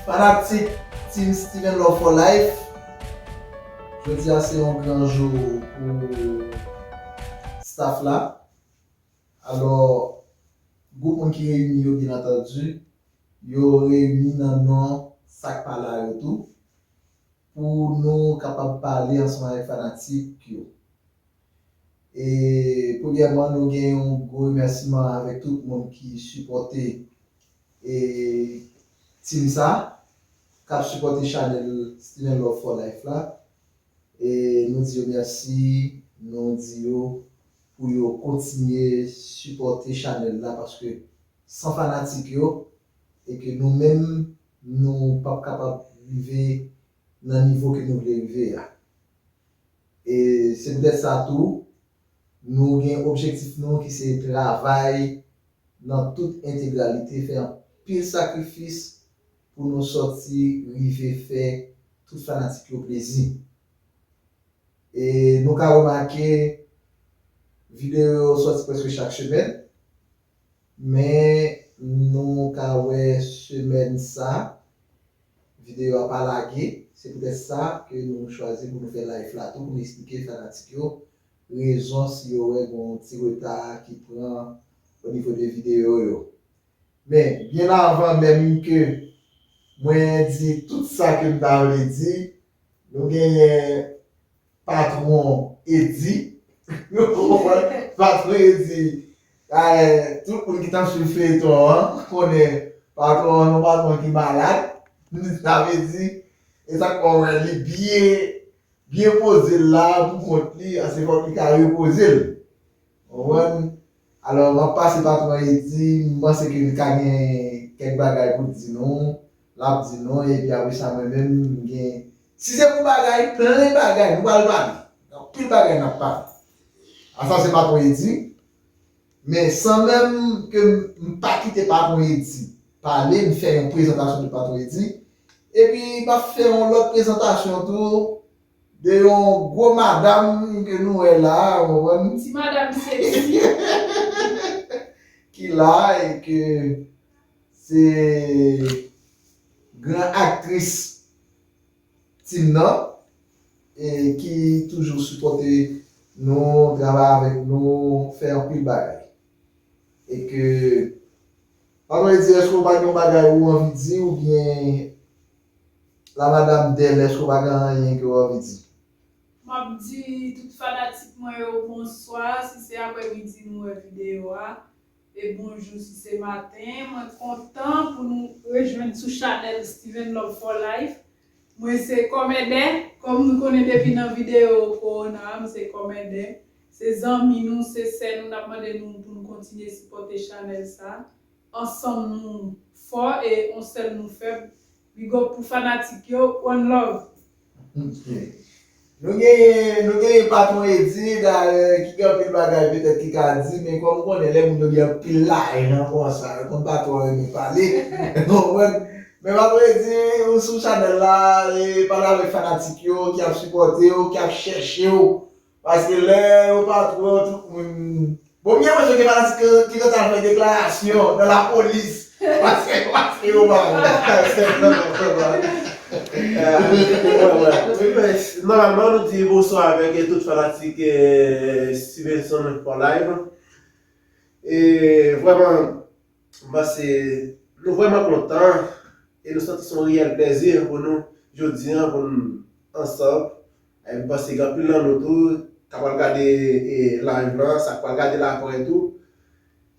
Fanatik Team Steven Love for Life Jodi a se yon gran jou pou staff la. Alò, gwoup moun ki reyini yo byennantandi, yo reyini nan non sa k pa la yo tou, pou nou kapab pale ansanm avèk fanatik yo. E, premyèman, nou gen yon gwo remèsiman avèk tout moun ki sipòte e team sa, k ap sipòte chanèl Still in Love for Life la, E nou di yo merci, nou di yo pou yo kontinye sipòte chanèl la paske san fanatik yo e ke nou menm nou pap kapab rive nan nivo ke nou vle rive a. E se poutèt sa tou nou gen objektif nou ki se travay nan tout entegralite fè anpil sakrifis pou nou sòti rive fè tout fanatik yo plezi. E nou ka remake videyo yo sòti prèske chak semèn, men nou ka wè semèn sa videyo a pa lage, se poutèt sa ke nou chwazi pou nou fè live la tou pou nou esplike fanatik yo rezon si yo wè gon ti reta ki pran onivo de videyo yo. Men, byen avan menm ke mwen di tout sa ke m ta vle di, nou genyen patwon Eddy, ou konprann, patwon Eddy, tout moun ki t ap swiv feyeton an konnen patwon an se yon patwon ki malad, sa vle di, e sa k fè w wè li byen, byen poze l la pou kont li, se fò k li ka repoze l. Ou konprann? Alò, m ap pase patwon Edi, m panse ke li ka gen kèk bagay pou l di nou, l ap di nou, epi apre sa mwen menm m gen. Si se pou bagay, plen bagay nou pral pale. Gen anpil bagay n ap pale. A sa se patwon Edi. Men, san menm ke m pa kite patwon Edi pale, m fè yon prezantasyon de patwon Edi. Epi, m ap fè yon lòt prezantasyon tou. De yon gwo madam ke nou wè la a, ou konprann? Ti madam seksi. Ki la a e ke se gran aktris team nan e ki toujou sipòte nou, travay avèk nou, fè anpil bagay. E ke, pa m vle di èske ou pa gen yon bagay ou anvi di oubyen. La madame Delèche ou pa gen anyen ke w anvi di? M ap di tout fanatik mwen yo bonswa si se aprè midi nou wè videyo a, e bonjou si se maten. Mwen kontan pou nou rejwenn sou chanèl Steven Love for Life. Mwen se Kòmèdè, kòm nou konnen depi nan videyo kowona a, m se Kòmèdè. Se zanmi nou, se sè nou, n ap mande nou pou nou kontinye sipòte chanèl sa. Ansanm nou fò e on sèl nou fèb big up pou fanatik yo one love. Nou genyen nou genyen patron Eddy dayè ki gen anpil bagay petèt ki ka di men kòm ou konnen lè moun yo gen anpil lajan konsa yo konn pa twò renmen pale ou konprann men patron Eddy ou sou chanèl la e pale avèk fanatik yo ki ap sipòtew ki ap chèchew Paske lè yo pa twouve yo tout moun Bon m gen pwèt yo gen fanatik ki rete al fè deklarasyon nan lapolis paske paske yo pa wè Nòmalman nou di bonswa avèk tout fanatik Stevenson for life E vrèman m panse nou vrèman kontan e nou santi se yon reyèl plèzi pou nou jodi an pou n ansanm M panse gen anpil nan nou tou ta pral gade live lan, sa k pral gade l aprè tou,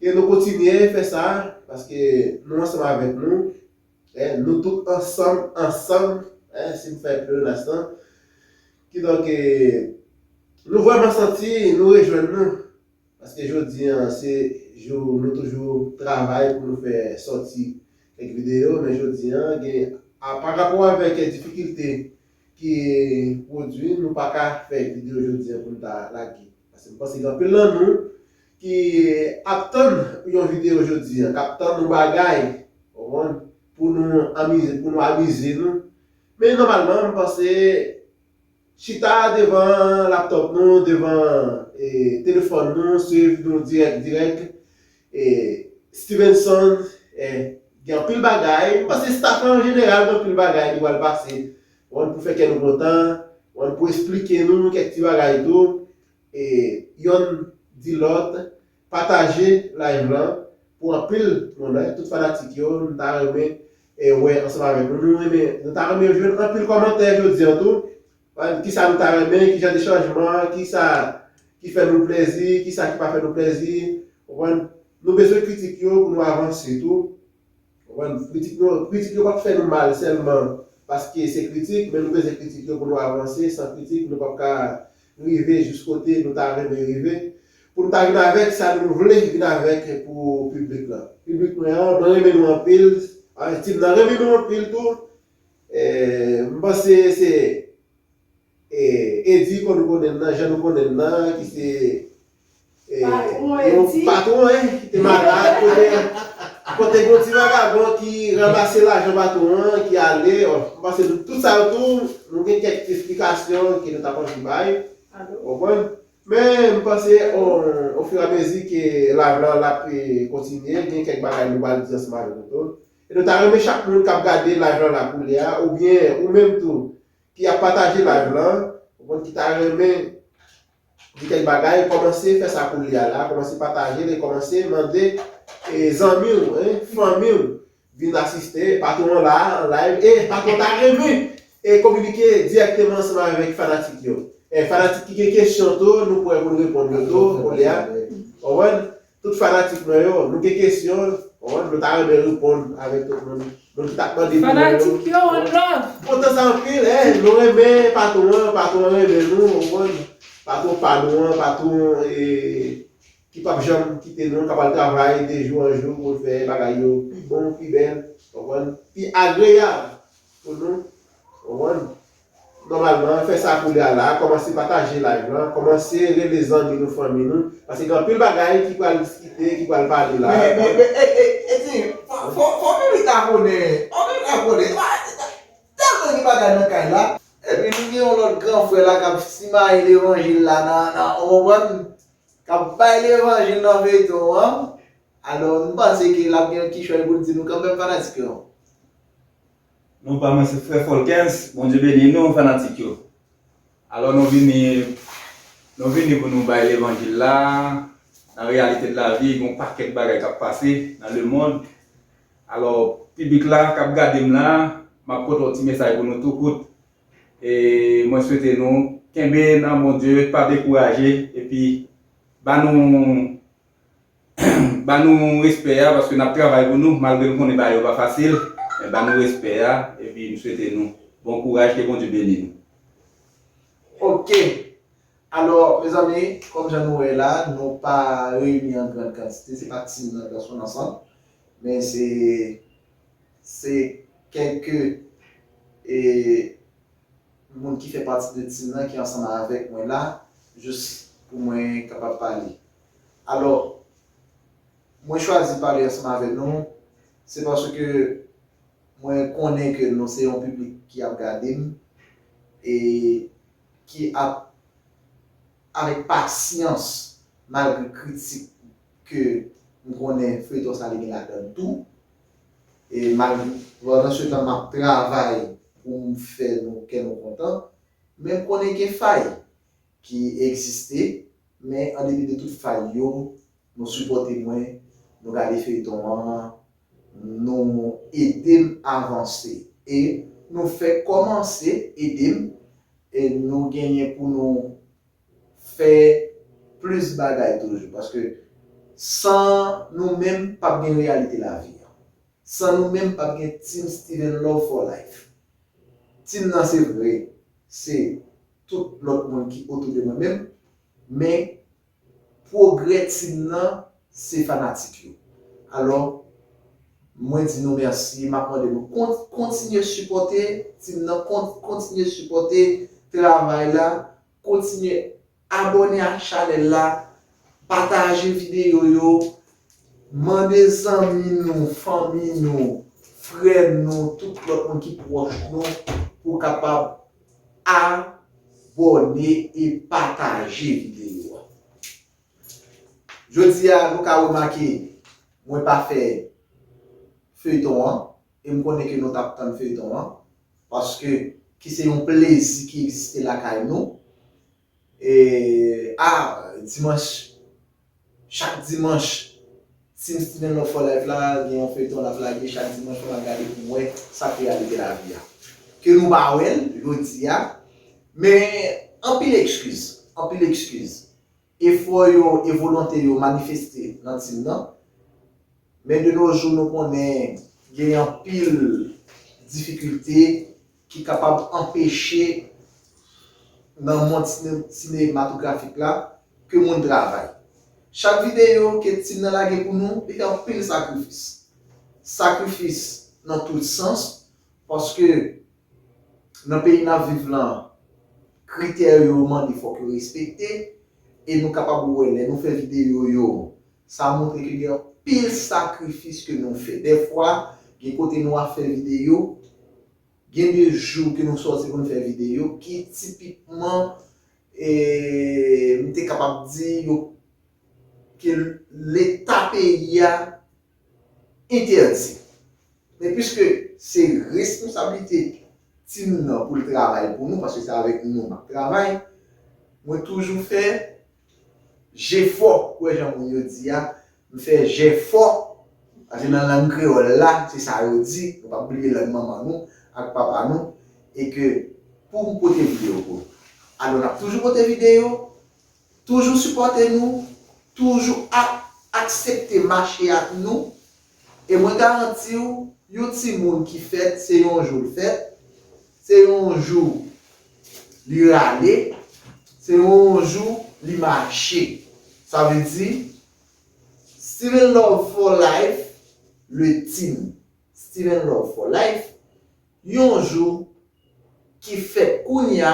ke nou kontinye fè sa, paske nou ansanm avèk nou, nou tout ansanm, ansanm, si m fè pleonas lan, kidonk nou vrèman santi nou rejwenn nou, paske jodi an se jou nou toujou travay pou nou fè sòti kèk videyo, men jodi an gen, parapò avèk difikilte ki pwodwi nou pa ka fè video jodi an pou n ta lage paske m panse gen anpil nan nou ki ap tann yon video jodi an k ap tann yon bagay ou konprann pou nou amize pou nou amize nou men nòmalman m panse chita devan laptop nou devan telefòn nou swiv nou dirèk dirèk Stevenson gen anpil bagay, m panse staff lan an jeneral gen anpil bagay ki pral pase pou fè kè nou kontan, pou esplike nou kèk ti bagay tou, yonn di lòt pataje live lan pou anpil moun, tout fanatik yo m ta renmen wè ansanm avèk nou, nou ta renmen jwenn anpil kòmantè jodi an tou, Ki sa nou ta renmen, ki jan de chanjman, ki sa ki fè nou plèzi, ki sa ki pa fè nou plèzi. Konprann? Nou bezwen kritik yo pou nou avanse tou. Konprann? Kritik nou, kritik yo p ap fè nou mal sèlman paske se kritik, men nou bezwen kritik yo pou nou avanse. San kritik, nou p ap ka rive jis kote nou ta renmen rive. Pou nou ta vin avèk sa nou vle vin avèk pou piblik lan. Piblik mwen an, mwen renmen nou anpil. Ti m nan renmen nou anpil tou. M panse se Eddy konn konnen nan jan nou konnen n nan ki se yon patwon an ki malad kote gen yon ti vagabon ki ranmase lajan patwon an ki ale m panse tout sa yo tou nou gen kèk esplikasyon ke nou ta p anvi bay ou konprann men m panse ofiramezi ke live lan ap kontinye gen kèk bagay nou pral di ansanm avèk nou tou E nou ta renmen chak moun kap gade live la la koulye a ou byen ou menm tou ki ap pataje live lan ou konn ki ta renmen di kèk bagay kòmanse fè sa koulye a la kòmanse patajel e kòmanse mande e zanmiw e fanmiw vin asiste patwon an la an live e patwon ta renmen e kominike dirèkteman ansanm avèk fanatik yo e fanatik ki gen kesyon tou nou prè poun reponn yo tou koulye a ou konprann. Tout fanatik mwen yo, nou gen kesyon, konprann, nou ta renmen reponn avèk tout moun, moun ki tap mande pou mwen yo. Fanatik yo, one love! M kontan sa anpil, eh, nou renmen patron an, patron an renmen nou, konprann, patron pa nou an, patron e, ki pap janm kite nou, kap al travay de jou an jou poul fè bagay yo pi bon, pi bèl, konprann, pi agreyab pou nou, konprann. Nòmalman fè sa koulye a la, kòmanse pataje live lan, kòmanse rele zanmi nou fanmi nou, paske gen anpil bagay ki pral diskite, ki pral pale la. Men men men ey ey Eddy fò fò Milik abone, fò Milik abone epa telman gen bagay nan kay la. Epi nou gen yon lòt gran frè la kap simaye levanjil la nan nan ou konprann kap bay levanjil nan feyton an alò m panse ke lap gen yon kichòy poul di nou kanmèm fanatik yo. Nou pa mwen se frè Folkens, Bondye beni nou fanatik yo. Alò nou vini nou vini pou nou bay levanjil la, nan reyalite de la vi gon pakèt bagay kap pase nan le mond. Alò piblik la kap gade m la, map pote yon ti mesaj pou nou tou kout. E mwen swete nou kenbe nan Bondye, pa dekouraje epi ba nou Ba nou respè a paske nap travay pou nou malgre nou konnen bagay yo pa fasil men ba nou respè a epi m swete nou bon kouraj ke Bondye beni nou. Ok! Alò, mezanmi, kòm jan nou wè la, nou pa reyini an grand kantite, se pa ti moun nan plas moun ansanm, men se se kèlke e moun ki fè pati de team nan ki ansanm avèk mwen la, jis pou mwen kapab pale. Alò, mwen chwazi pale ansanm avè nou, se paske mwen konnen ke nou se yon piblik ki ap gade m, e ki ap avèk pasyans malgre kritik ke m konnen feyton sa li gen ladan l tou. E malgre, pandan se tan m ap travay pou m fè nou kè nou kontan, men m konnen gen fay. ki egziste men an depi de tout fay yo nou sipòte mwen nou gade feyton an nou edem avanse e nou fè kòmanse edem e nou genyen pou nou fè plis bagay toujou paske san nou menm pap gen reyalite lavi an san nou menm pap gen team steven love for life team nan se vre se tout lòt moun ki otou de mwen menm, men pwogrè team nan se fanatik yo. Alò, mwen di nou mèsi, map mande nou kont, kontinye sipòte team nan, kont, kontinye sipòte travay la, kontinye abòne ak chanèl la, pataje videyo yo, mande zanmi nou, fanmi nou, frè nou, tout lòt moun ki pwòch nou pou kapab. Abòne e pataje videyo a. Jodi a nou ka remake mwen pa fè feyton an e m konnen ke nou t ap tann feyton an paske ki se yon plezi ki egziste lakay nou. E ah dimanch chak dimanch Team Steven Love for life la gen yon feyton lap lage chak dimanch fòk map gade poum wè sak reyalite lavi a ke nou pa wèl jodia men anpil ekskiz anpil ekskiz efò yo e volonte yo manifeste nan team nan men de no jou nou konnen gen anpil difikilte ki kapab anpeche nan mond sinematografik la ke moun travay. Chak videyo ke Tim nan lage pou nou, li gen anpil sakrifis. Sakrifis nan tout sans, paske nan peyi nap viv lan, kritè yo mande fòk yo respekte, e nou kapab wè lè nou fè videyo yo, Sa montre ke gen anpil sakrifis ke nou fè. Dèfwa, gen kote nou ap fè videyo, gen de jou ke nou sòti pou nou fè videyo ki tipikman, m te kapab di yo, ke leta peyi a entèdi. Men piske se responsablite timoun nan pou l travay pou nou, paske se avèk nou m ap travay, mwen toujou fè Jefò, kwè jan moun yo di a, m fè jèfò, paske nan lang kreyòl la, se sa yo di, nou pap bliye lang manman nou ak papa nou, e ke pou m pote videyo pou nou. Alò n ap toujou pote videyo, toujou sipòte nou, toujou ap aksepte mache ak nou. E mwen garanti w, yon timoun ki fèt, se yon jou l fèt, se yon jou li rale, se yon jou li mache. Sa vle di, Still in Love for Life, Le Tim, Still in Love for Life, yon jou ki fèt kounya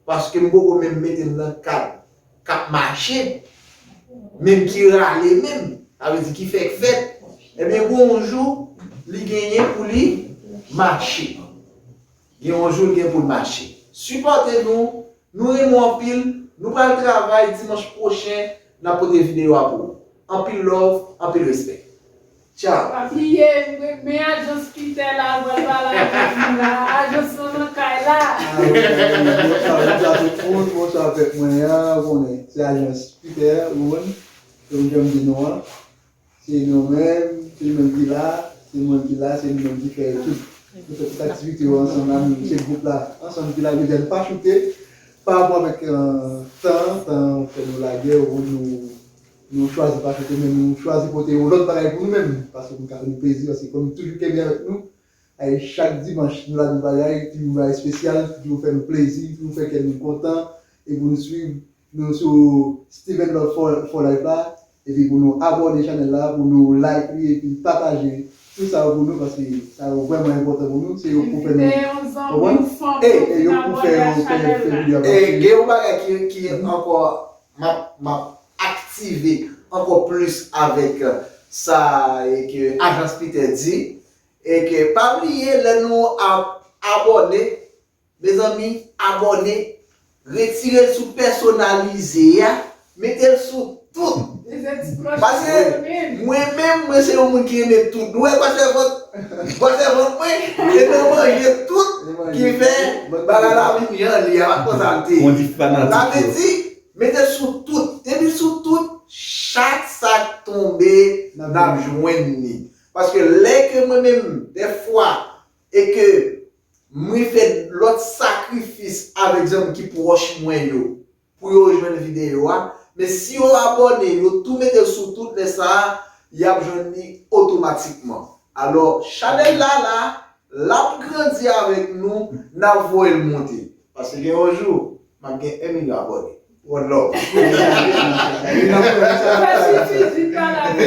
paske m poko menm mete m nan kad k ap mache menm ki rale menm sa vle di ki fèk fèt ebyen gen yon jou li genyen pou li mache gen yon jou li gen pou l mache sipòte nou nou renmen w anpil nou pral travay dimanch pwochen n ap pote videyo a pou ou anpil love anpil respè. Tchau. Pa bliye m renmen ajans peter la m pral pale avèk nou la ajans lan nan kay la. Bonsoir tout moun bonsoir pèp mwen an ou konnen se ajans peter Rony kòm janm di nou an se nou menm se li menm ki la se mwen ki la se nou menm ki fè tout nou fè tout aktivite yo ansanm la nou se gwoup la ansanm ki la jodi a nou pa choute pa rapò avèk tan tan fè nou lagè ou nou Nou chwazi pa chante men nou chwazi pote yon lòt bagay pou nou menm paske pou nou ka fè nou plezi paske kòm nou toujou kenbe avèk nou ay chak dimanch nou la nou bagay ti yon bagay espesyal ki toujou fè nou plezi toujou fè kè nou kontan e pou nou swiv nou sou Steven Love for for life la epi pou nou abòne chanèl la pou nou like li epi pataje tout sa yo pou nou paske sa yo vrèman enpòtan pou nou se yo k pou fè nou konprann e e yo k pou fè yo fè fè video a paske. E gen yon bagay ki ankò Map map aktive ankò plis avèk sa ke ajans Peter di e ke pa bliye lè nou ap abòne mezanmi abòne retirel sou pèsonalize a metel sou tout paske mwen menm mwen se yon moun ki renmen tout nou wè pasteur vòt Manzè vant mwen e nan manje tout ki fè bagay la vin jan li a, pa twò salte. Sa vle di, mete sou tout. Depi sou tout, chak sa k tonbe n ap jwenn li. Paske lè ke mwen menm dèfwa e ke mwen fè lòt sakrifis avèk zanmi ki pwòch mwen yo, Pou yo jwenn video a, men si yo abòne yo tou metel sou tout lè sa yap jwenn li otomatikman. Alò chanèl la la, lap grandi avèk nou, nap voyel monte. Pase gen yon jou map gen 1 milyon abòne. One love. Pase ti di pala wi.